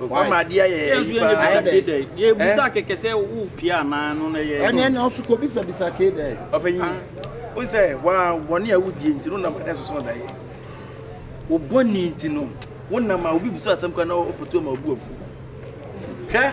Wama ade ayɛ yɛn ayi paa. Ayɛ dɛ. Yɛ busa kɛkɛ sɛ wo pia anaa no na yɛ. Ɛnɛ na ɔfi kɔ bisa bisa kee dɛ. Ɔpanyin. O sɛ wa wɔne a wodie nti no nam adɛ soso ɔda yɛ. Wo bɔne nti no wo nam a obi busa asɛm kwa na ɔpɔtu ama obu afu. Hwɛ.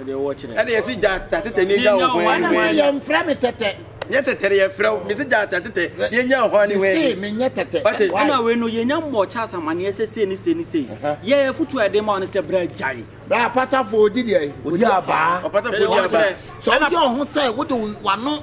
Ɛna yɛsi gyata tetɛ ne nya ɔhwan ne hwan. Mesi yɛn mfrɛ me tɛtɛ. Nyɛ tɛtɛ yɛ frɛ wo mesi gyata tetɛ ne nya ɔhwan ne hwan. Mesi me nyɛ tɛtɛ. Ɔte. Ɛna wei no yɛn nya mmɔ Charles amaneɛ sɛ sei ne sei ne sei. Yɛ yɛ futu a yɛde ma wɔn sɛ bra gyae. Bra apatafo odi deɛ. Odi abaa. Apatafo odi abaa. Sɛ ɔdi ɔho sɛ wode wano.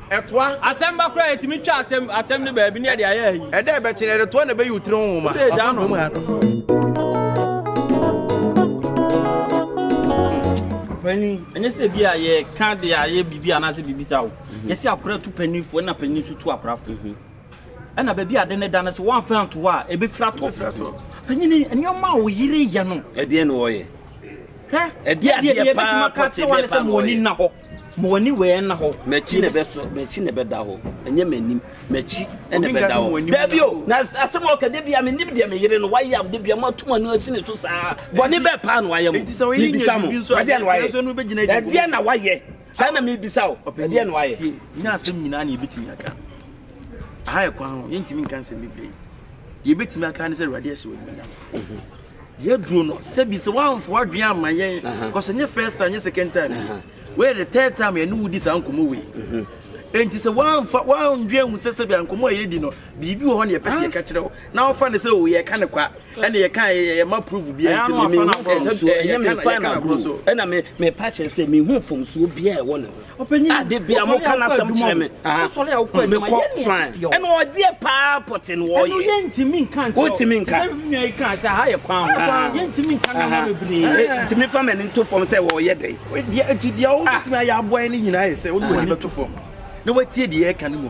Ɛtoa. Asɛmma koraa a etumi twa asɛm asɛm no baabi ne ɛde ayɛ ayi. Ɛda a ɛbɛkye no, ɛretoa na ɛbɛyi wo tiri ho nwoma. Wode agya no. Panyin, ɛnyɛ sɛ bi a yɛka de ayɛ biribi anaasɛ biribi sa wo. Mhm. Yɛsi akora tu panyinfo ɛna panyin nso tu akorafo. Mhm. Ɛna baabi ade ne da no so wɔamfa anto hɔ a ebefira tɔ. Panyin nneɛma a wo yere yɛ no. Ɛdeɛ na wɔyɛ. Hwɛ ɛdeɛ adeɛ paa pɔtee bɛɛ paa wɔyɛ. Ma w'ani wei nna hɔ. M'akyi na ɛbɛ m'akyi na ɛbɛda hɔ ɛnyɛ m'anim m'akyi ɛna ɛbɛda hɔ. Dabi o na asɛm a ɔka dabi a menim deɛ me yere no wayɛ a dabi a mo atum ano asi ne so saa bɔne bɛɛ paa na wayɛ mo mebisa mo ɛdeɛ na wayɛ ɛdeɛ na wayɛ saa na mebisa o ɛdeɛ na wayɛ. Nyɛ asɛm nyinaa na yɛbɛtumi aka aha yɛ kwan ho yɛntumi nka nsɛm bebree yɛbɛtumi aka ne sɛ awurade ahyɛ wɔ nyinaa. Yɛduru no sɛbi sɛ woamfa w'adwene amma yɛn because ɛnyɛ first time ɛnyɛ second time woyɛ the third time yɛne wo di saa nkɔmmɔ wei enti mhm. sɛ woamfa woandwene ahu sɛ sɛbi ankɔmmɔ a yɛdi no biribi wɔ hɔ ne yɛpɛ sɛ yɛka kyerɛ wo na wofa ne sɛ o oh, yɛka ne kwa ɛne yɛka yɛma proof biara nti ɛna mefa no agorɔ so ɛna mepa kyerɛ sɛ mehu mfomsoɔ biara ɛwɔ ne ho Ade bia mo ka n'asɛm kyerɛ me. Me kɔ fine. Ɛna ɔdeɛ paa pɔte no wɔyɛ. Ɛnu yɛ ntumi nka nkyɛn. O ntumi nka. Sɛ mi nua yi kan sɛ ha yɛ kwan ho. Yɛ ntumi nka na ma bebree. Ntumi fa mɛni nto fam sɛ wɔyɛ dɛ. Deɛ nti deɛ o ntumi ayɛ aboa yɛ ne nyinaa yɛ sɛ o de wɔn ani bɛto fam. Na wɔatie deɛ yɛ ka ne mu.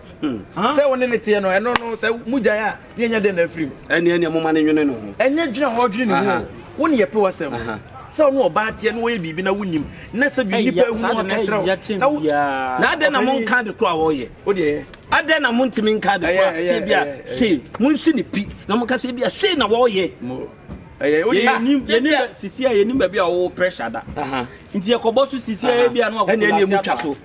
Hmm. sɛ wo ne ne teɛ no ɛno no sɛ mogyae a ne ɛnyɛ dɛn na afiri mu ɛneɛ neɛ moma ne nwene ne ho ɛnyɛ dwene a wɔdwene ne ho wo ne yɛpe wasɛm sɛ ɔno ɔbaa teɛ na wɔyɛ biribi na wonim na sɛ bi nnipa ahu no ɔne kyerɛ wo na adɛn na monka de kora wɔyɛ wodeɛ adɛn na montumi nka de kora sɛ bi a sei monsi ne pi na moka sɛ bi a sei na wɔyɛ yɛnim baabi a wɔwɔ pressure da nti yɛkɔbɔ so sisi a ɛbi a no akɔkɔlase afa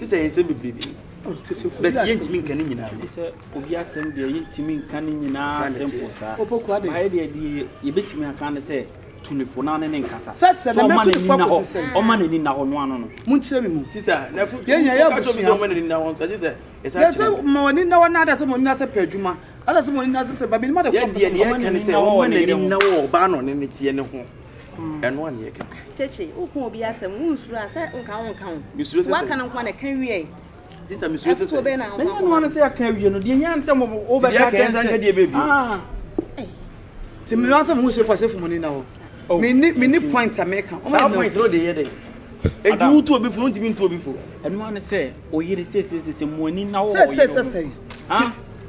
sisɛ yɛn nsɛm bebree bi bɛti yɛn ntumi nka ne nyinaa bi. sɛ obi asɛm deɛ yɛn ntumi nka ne nyinaa asɛm po saa baayɛ deɛ deɛ yɛbɛtumi aka ne sɛ tunifo na ne ne nkasa sɛ ɔma n'ani na hɔ ɔma n'ani na hɔ no ano no. mo nkyerɛ mi mu. sisa na fo yɛn yɛn yɛ abusua yɛn ɔma n'ani na hɔ nso ɛgye sɛ ɛsan kyerɛ. yɛsɛ ma wɔn ani na hɔ na ada sɛ wɔn ani na sɛ pɛ adwuma ada sɛ wɔn ani na sɛ sɛ babi ni ma de kɔ. yɛ deɛ deɛ yɛ kɛ ne sɛ wɔn ma n'ani na hɔ ɔbaa na ɔne ne teɛ ne ho. ɛno anyɛ kɛkɛ. Kyekye, woka obi asɛm, wonsuro a sɛ nka wonka ho. Mesuro sɛ sɛ. Waka no nko a na ɛka wie. Sista mesuro sɛ sɛ. Ɛfotuo bɛn na wokɔ akɔma. Mɛnyɛ no ano sɛ yɛaka awie no, deɛ nyɛ nsɛm wɔ wo bɛka kyɛn sɛ. Deɛ deɛ bɛbi. Ti mi wọn sɛ mo sefo asefo mo ni na hɔ. Mi ni mi ni point a mi ka. Saa point no de yɛ dɛ. Eti wo tu obi fo, ntumi ntu obi fo. Ɛno ano sɛ oyere sɛ sɛ sɛ sɛ mo ani na wɔ oyere. Sɛ sɛ sɛ sɛ.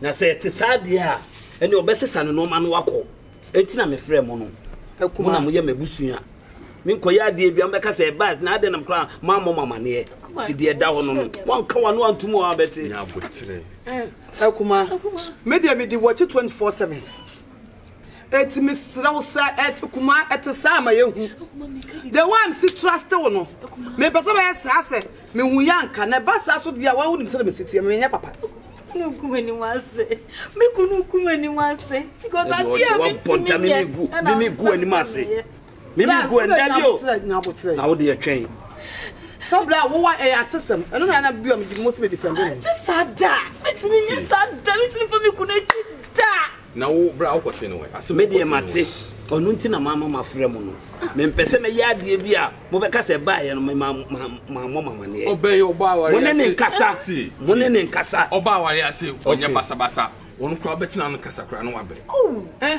na sɛ ɛte saa deɛ a ɛne ɔbɛsesa no nɔɔma no wakɔ ɛnti na mefrɛ mo no mo na moyɛ m'abusua menkɔyɛ adeɛ bia mobɛka sɛ ɛbas na adɛn nam koraa moammɔ mo amaneɛ nti deɛ ɛda hɔ no no moanka wa no antom a wabɛte akoma medeɛ mede wɔkye 24 7 Eti mesrɛ wo sɛ ɛte kuma ɛte saa ma yɛhu. The way I'm si trust wo no, mepɛ sɛ bɛyɛ saa sɛ mehu yɛ anka na ɛba saa so deɛ a wonim sɛ mesi teɛ menyɛ papa. Kunu kum ani wase. Me kunu kum ani wase. Because adeɛ a mentumi nyɛ ɛna mfa mfa meyɛ. Mimi gu ɛ nda bi o. Na wo deɛ twɛn. Sɛ bla wo wa ɛyɛ atesɛm. Ɛno na na bi a mede mo se me defend no. Ɛte saa da. Metumi nyɛ saa da. Metumi fa me kunu akyi da. Na wo bra wo kɔte no wɛ. Ase me deɛ mate. Ɔno nti na mama mafrɛ mo no. Mempɛ sɛ mɛyɛ adeɛ bi a mobɛka sɛ ɛbaeɛ no mema mammɔ mamaneɛ. Ɔbɛyɛ ɔbaa aware ase. Mo ne ne nkasa. Mo ne ne nkasa. Ɔbaa aware ase ɔnyɛ basabasa. Ɔno koraa wobɛtena no kasa koraa na wabere. Oh. Eh.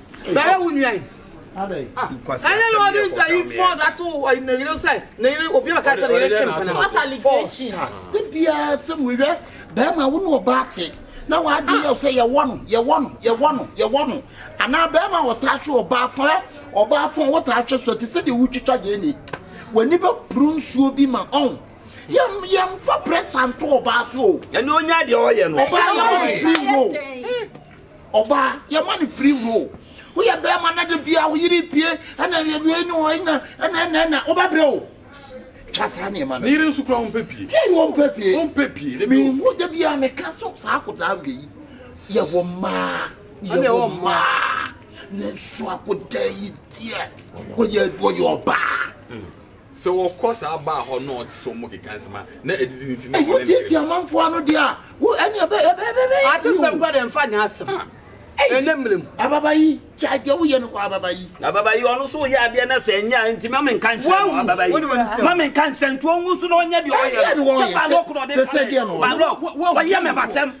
bɛyɛ wo nua yi ɛne na ɔde mpayifoɔ da so ne yere sɛ ne yere obi bɛka sɛ ne yere twe mpena de biara sɛ mehwɛ bɛrima wo ne ɔbaa te na w'adwe yɛ sɛ yɛwɔ no yɛwɔ no yɛwɔ no yɛwɔ no anaa bɛrima a ɔtaa hwe ɔbaa fo ɛ ɔbaa fo wotaa hwe so te sɛ deɛ wotwitwa gyeene w'ani bɛboro nsuo bi ma ɔn yɛmfa prɛsa nto ɔbaa so o ɛne ɔnya deɛ ɔyɛ no ɔbaa yɛ ɔmfiri wo Ɔbaa, yɛma no free role. Woyɛ bɛrima na da biara wo yere pie ɛna wei ne wei na ɛna ɛna ɛna wobɛbrɛ o. Twa saa nneɛma no. Ne yere nso kura ɔmpɛ pie. Pie yi ɔmpɛ pie. Ɔmpɛ pie. Ne mi nfo da biara meka so saa akodaa wei yi. Yɛwɔ mmaa. Yɛwɔ mmaa. Nanso akodaa yi deɛ wɔyɛ wɔyɛ ɔbaa. Sɛ wɔkɔ saa baa hɔ na ɔte sɛ wɔn keka nsɛm a na adidi no nti na ɔne ne yere bɔ. Ɛho tiatia amanfoɔ ano deɛ a, wo ɛne ɛbɛ ɛbɛ ɛbɛ ɛbɛ. Atesɛm kura deɛ nfa nyɛ asɛm. Ɛnɛ mmerɛ mu. Ababa yi, kyae deɛ woyɛ no kɔ ababa yi. Ababa yi, ɔno nso reyɛ adeɛ na sɛ ɛnyɛ a nti ma menka nkyerɛ no ababa yi. Ma menka nkyerɛ no nti ɔngu nso na ɔnyɛ deɛ ɔyɛ no. Sɛ balɔk na ɔde ka me. Balɔk, wayɛ me basɛm.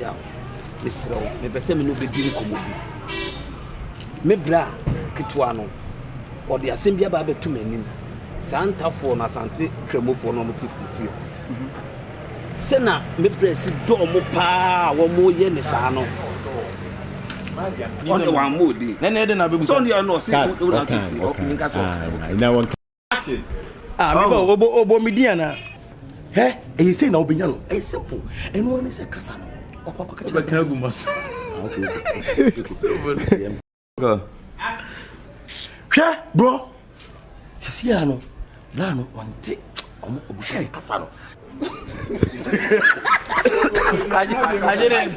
Yaw, mesrɛ wo, mepɛ sɛ me ne wo bɛdi nkɔmmɔ bi. Me bra ketewa no, ɔde asɛm bi aba abɛto m'anim. Saa ntafoɔ no, Asante Kramofoɔ no, wɔte fie hɔ. Mhm. Sɛ na me bra si dɔɔ mo paa a wɔyɛ ne saa no, ɔne wɔn ammɔ odin. Sɛ ɔne ɔno ɔse, ɔte fie, ɔnka sɛ ɔka. Ah, me oh. obo obo me di ana. He, e eh, say na obenya no. E simple. Eno ne se kasa no. Okwa kwa kacha. Obeka gu maso. Ah, okay. Okay. Go. Hwɛ bro. Sisi ya no. Bra no onte. Omo obusha kasa no. Kaje kaje